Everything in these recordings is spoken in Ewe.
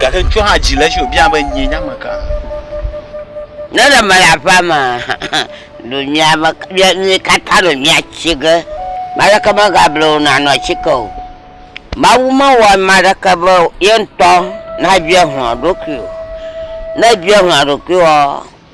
Gake ŋutsua hã dzi le edzi wòbiae be, Nyee nye ame ka? Ne ɖe mele aƒea mea, ɖo mía me mía mí katã ɖo míatsi ge. Ame aɖeke megable wò nàno atike o. Mawu mewɔ ame aɖeke be ye ŋutɔ nabia hlɔ̃ eɖokui o. Ne èbia hlɔ̃ ɖokuiwòa,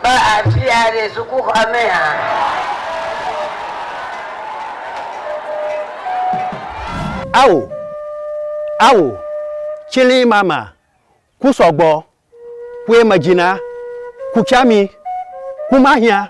Kpɔ afia ɖe sukuxɔa me hã. Ao! Ao! Tsili mama, ku sɔgbɔ, kue medzina, ku tsami, ku mahiã,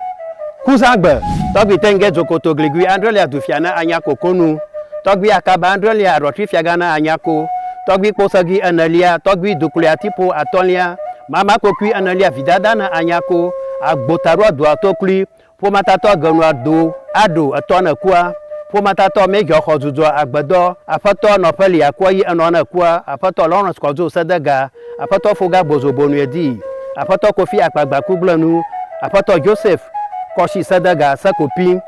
ku zãgbe. Tɔgbi Tenge Dzokoto Gligui Andrelia Dufia na anya koko nu, Tɔgbi Akaba Andrelia Aɖɔtri Fiagã na anya ko, Tɔgbi Kposegi Enelia, Tɔgbi Dukluiatipo Atɔ̃lia, Mama kpokui ana lia vidada na anya ko agbo taɖo adoa to klui ƒomatatɔ agenu ado aɖo etɔ ne kua ƒomatatɔ mɛ gya xɔ dudua agbedɔ aƒetɔ nɔ ƒe lia kua yi enɔ ne kua aƒetɔ Lawrence kɔdzo sedega aƒetɔ foga gbozo bonue di aƒetɔ kofi akpagba kugblenu aƒetɔ Joseph kɔshi sedega sekopi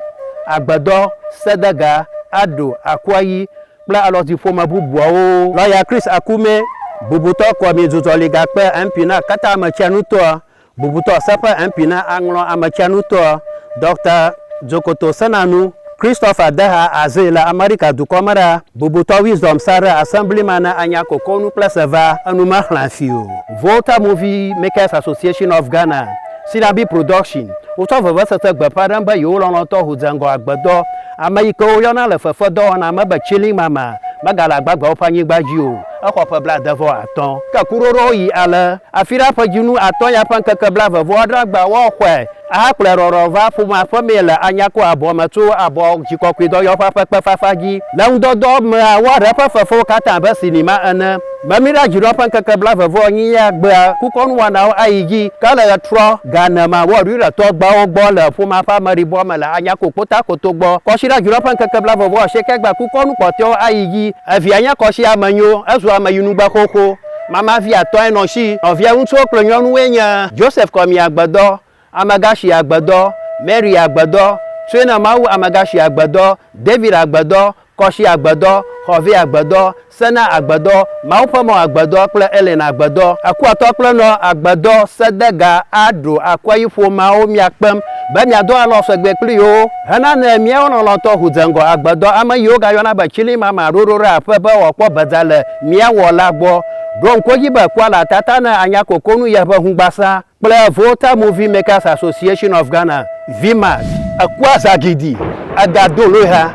agbedɔ sedega aɖo akua yi kple alɔti ƒome bubuawo. Lɔya Chris Akume, bubutɔ Kɔmidzudzɔligakpe MP na Kata Ametsianutɔa, bubutɔ Seƒe MP na Aŋlɔ Ametsianutɔa, Dɔkta Dzokoto Senanu, Christopher Deha Azee le Amerika dukɔ me ɖa, bubutɔ Wisdom Sarah Assemblyman na Anya Kokonu kple Seva Enumexlẽafi o. Volta Movie Makers Association of Ghana. Sinabi Production, Wotsɔ vevesese gbe ƒã ɖem be yewo lɔlɔ̃tɔ ho dze ŋgɔ agbedɔ. Ameyike woyɔna le fefedɔwɔna me be Chilling Mama megale agbagbeawo ƒe anyigba dzi o. Exɔ ƒe blaade vɔ atɔ̃. Ke kuɖoɖoawo yi ale, Afira ƒe dzinu atɔ̃ ya ƒe ŋkeke blaeve vɔ adre agba woaxɔe ahakplɔe rɔrɔ va ƒomea ƒe mee le Anyako abɔ me tso abɔ dzikɔkɔedɔyɔƒea ƒe kpefafa dzi. Le ŋudɔdɔ mea, woaɖe eƒe fefewo katã abe sinima ene. Be míɖa dzi ɖoa ƒe ŋkeke blaeve-vɔ-enyi ya gbea kukɔnuwɔnawo ayi edzi. Ke le ɣetrɔ gane ma, wɔ Yudatɔ gbawo gbɔ le ƒomea ƒe ameɖibɔa me le Anyako Kpotakoto gbɔ. Kɔsiɖa dzi ɖoa ƒe ŋkeke blaeve-vɔ-asieke gbea kukɔnu kpɔtɔewo ayi edzi. Evia nye kɔsi ame nyo, ezu ame yi nugbe xoxo. Mama vi atɔ̃e nɔ esi. Nɔvia ŋutsuwo kple nyɔnuwoe nye, Joseph Kɔmia Gbedɔ, Amegashi agbedɔ, Mary agbedɔ, Trina Mawu amegashi agbedɔ, David agbedɔ, Kɔshi agbedɔ, Xɔvɛ agbedɔ, Sena agbedɔ, Mawu ƒe mɔ agbedɔ kple Ellen agbedɔ. Akuatɔ kple nɔ agbedɔ sedega a ɖo akua yi ƒomeawo mia kpem be mia do alɔ sɔgbe kpli yewo hena ne miawo lɔlɔtɔ ŋu dze ŋgɔ agbedɔ ame yiwo ga yɔna be tsili mama ɖoɖo ɖe aƒe be wɔ kpɔ bedza le mia wɔ la gbɔ. Ɖo ŋku edzi be kua le atata ne anya koko nu yeƒe ŋugbasa. kple Volta Movie Makers Association of Ghana, VMAG. Eku azagidi, ega do loeha,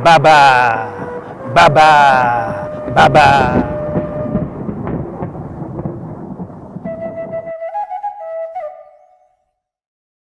baba, baba, baba.